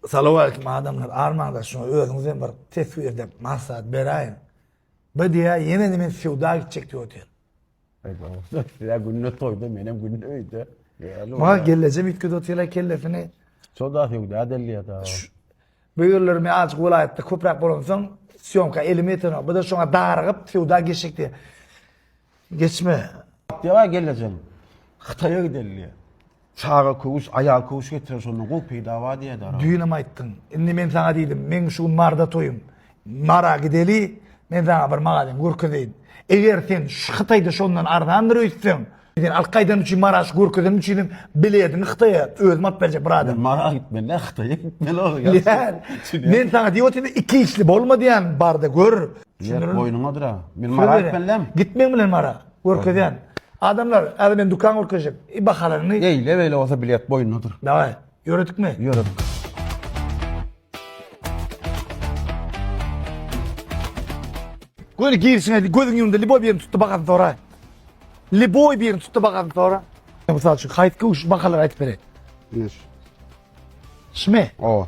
Salowaleýkim adamlar armaňda şuňa özüňizem bir teswir dep maslahat beräýiň. Bu diýä ýene men söwda gitjek diýip otyr. Sizä günde toýda menem günde öýde. Ma gelleje mitgide otyrlar kellesini. Soda söwda delýär da. Bu ýerler men azjyk welaýatda köpräk bolansoň syýomka elime ýetenok. Bu da şoňa darygyp söwda geçjek diýär. Geçme. Ýa gelejem. Hytaýa gideli diýýä. Çaga köwüş, aýal köwüş getirer şondan gowy peýda bar diýýä-de araba. Düýnem aýtdyň. Indi men saňa diýdim, meň şu gün Marda toýum. Mara gideli, men saňa bir magazin görkezeýin. Eger sen Hytaýda şondan arzandyr öýtseň, sen alyp gaýdan üçin Mara şu görkezenim üçinem bilediňi Hytaýa özüm alyp berjek bir adam. Men Mara gitmeli-ä, Hytaýa gitmeli ol. Ýa, men saňa diýip otyryn, iki işli bolma diýýän, bar-da gör. Ýer boýnuňadyr-a. Men Mara gitmelidem. Git meň bilen Mara. Görkezýän. Adamlar, häzir men dükan görkezjek. I bahalaryňy. Eýle-beýle bolsa bilet boýnuňdadyr. Dawaý, ýöredikmi? Ýöredik. Göni girişine gözüň ýumdy, liboý birini tut-da bahasyny sora. Liboý birini tut-da bahasyny sora. Mysal üçin, haýsy köwüş bahalary aýdyp bereýin? Ine şu. Şumy? Oba.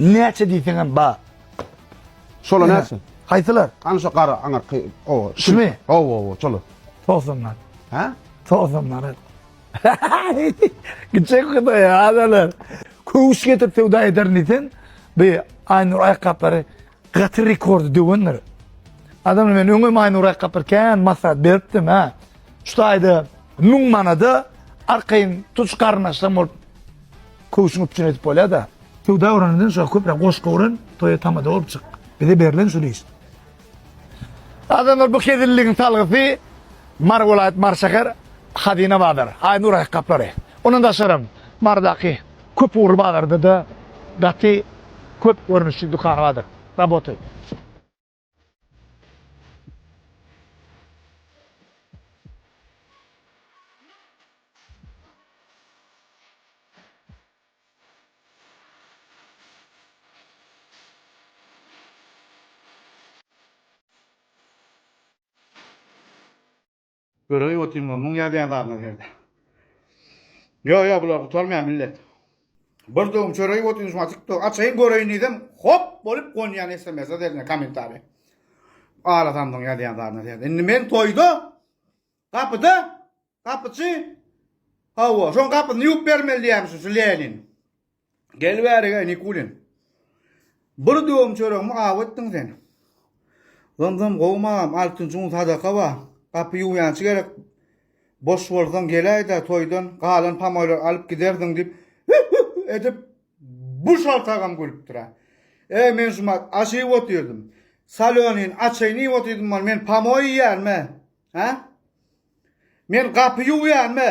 Näçe diýseňem bar. Şolar näçe? Haýsylar? Ana şu gara aňyrky gowa. Şumy? Gowa gowa şolar. 90 manat. Hä? 90 manat. Gitjek hudaýa adalar. Köwüş getirip söwda ederin diýsen, bu Aýnur aýakgaplary Gaty rekordy döwendir. Adam men öňe maýnurak gapyr kän masat beripdim ha. Şu taýda 1000 manada arkaýyn tuç garnaşdan bolup köwşüň üpjün edip bolýar da. Söwda öwrenenden şu köpre goşgy öwren, toýa tamada bolup çyk. Bize berlen şu iş. Adamlar bu hezilligiň salgysy Mar welaýat Mar şäher Hazina bazar. Aýnurak gaplary. Ondan daşarym Mardaky Köp ugurly bazarda-da gaty köp görnüşli dükan bardyr. Raboty. Göräý otyň ol muň ýazýan zadyna serde. Ýok ýok bular gutarmaýar millet. Bir döwüm çöreý otyň şuňa tiktok açaýyn göreýin diýsem hop bolup gonýan sms derine kommentariýa. Ara samdyň ýazýan zadyna serde. Indi men toýda gapyda gapyçy hawa şoň gapyny ýuwup bermeli diýýämişin şu Lenin. Gel bärig-ä, Nikulin. Bir döwüm çöregimi aw etdiň sen. Zym-zym gowumy agam, altynjy gün sadaka bar. Gapy ýuwýançy gerek. Boş bolsaň geläý-dä, toýdan galan pamoýlary alyp gidersiň, diýip, hü-hü-hü edip, bu şalt agam gülüpdir-ä. Eý, men şumat aş iýip otyrdym. Solönin, açaýyn iýip otyrdym bol, men pamoý iýýärmi? Hä? Men gapy ýuwýarmy?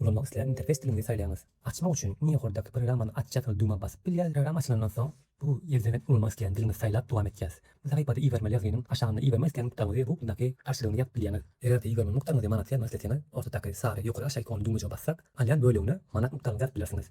Ulanmak islän interfeýs diliňizi saýlaýyňyz. Açmak üçin iň ýokardaky programmany aç ýazgyly düwmä basyp bilýäs. Program açylandan soň, bu ýerden ulanmak islän diliňizi saýlap dowam etýäs. Bu sahypada ibermeli ýazgynyň aşagynda ibermek islän nukdaňyzy bu ugldaky garşylygyny ýazyp bilýäňiz. Eger-de ibermeli nukdaňyzy manatda ýazmak isleseňiz, ortadaky sary ýokary-aşaý ikonyny düwmejige bassak, alýan bölegine manat nukdaňyzy ýazyp bilersiňiz.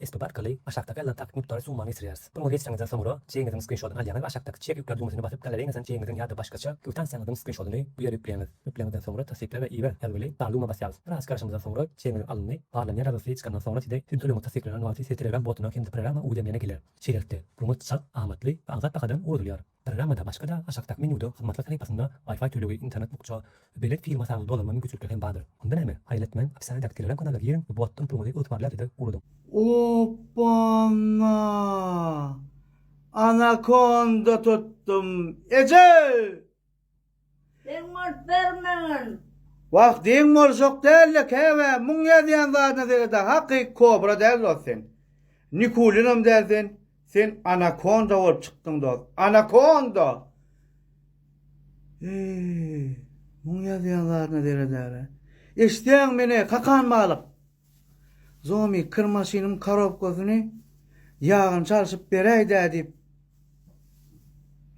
Esbap arkaly aşakdaky aýlantak mukdary summany geçirýäris. Buny geçireňizden soňra, çeýiňiziň skrinşotyny alýaňyz we aşakdaky Çek ýükle düwmesine basyp, galareýiňizden çeýiňiziň ýa-da başgaça kwitansiýaňyzyň skrinşotyny bu ýere ýükleýäňiz. Ýükleňizden soňra Tassykla we iber ýazgyly galuma basýarys. Biraz garaşymyzdan soňra, çeýiňiziň alyndy. Barlanýan ýazgysy çykandan soňra size siziň tölegiňiz tassyklanan wagty size Telegram botuna hem-de programma uwzlemlene geler. Şeýlelikde, ruňňut çalt, amatly we aňsat bahadan ugrudylýar. Programmada başga-da aşakdaky menýuda hyzmatlar sahypasynda Wi-Fi tölegi, internet bukja, belet firma sany dolanma mümkinçilikleri hem bardyr. Onda näme? Haýyletmäň, opissiýadaky Telegram kanalda giň we bu atdan puluňyzy ygtybarly adrese ugradyň. Oppana! Anakonda tutdum! Eje! Deň bolup bermegin. Wah deň boluşok dälde käbä muň ýazýan zadyna sereda hakyky kobra däl dost sen nikulinam däl sen sen anakonda bolup çykdyň dost anakonda eee muň ýazýan zadyna seredäle eşitýäňmi meni kakan balyk. Zomi, kir maşynyň korobkasyny ýagyny çalşyp beräý-dä diýip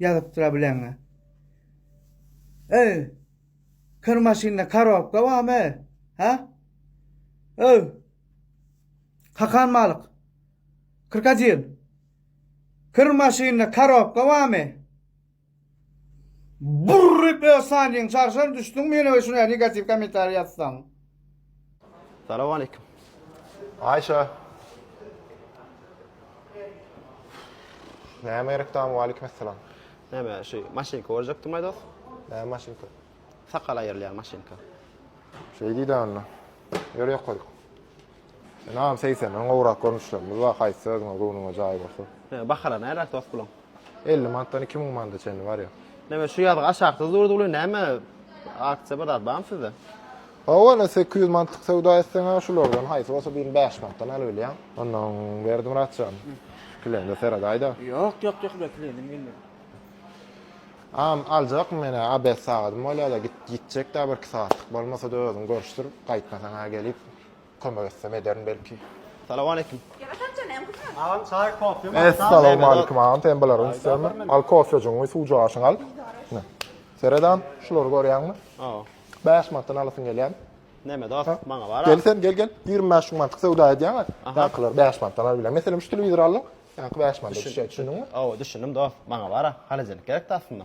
ýazypdyr-a bileňe. Öý, kir maşynda korobka barmy, hä? Öý, kakan balyk, krokodil, kir maşynda korobka barmy? Burryp öz sanyň çarşan düşdüň meniň öçün a negatiw komentariý ýazsaň. Salam aleýkum. Aýşa. Näme gerek dam waleýkim essalam. Näme şu maşynka görjekdim aý dos. Näme maşynka. Sakal aýyrylýan maşynka. Şeýdi dä onda. Ýör ýokaryk. Ynam segsenden gowrak görnüşlerimiz bar haýsy özüňe göwnüňe jaý bolsa. He bahara närak dost puluň? Elli manatdan iki müň manada çenli barýar. Näme şu ýazgy aşaksyz durdy uly näme aksiýa bir zat barmy sizde? Hawa ine sekiz ýüz manatlyk söwda etseňä şulardan haýsy bolsa birini bäş manatdan alybilýäň. Ondan Berdimurat jan şu kilende seredaýda. Ýok ýok ýok uly kilenem gelmedi. Am aljakmy menä abed sagadym bolýada git gitjekdä birki sagatlyk bolmasada özüň görüşdir gaýtmasaňa gelip Kömek etsem ederin belki. Salawaleýkim. Agam çaý kofe mi? Essalowmalikim agam sen bulara ünslenme. Al kofejiňi suwjaşyňy al. Ne? Seret agam şulary görýäňmi? Aw. 5 manatdan alasyň gelýän. Neme dost maňa bar. Gel sen gel gel 25 şu mantyk söwda edýäňä. Ýankylary 5 manatdan alyp bilen. Meselem şu telewizor aldyň. Ýanky 5 manat düşýä düşündiňmi? Aw düşündim dost maňa bar. Halajenik gerekdi aslynda.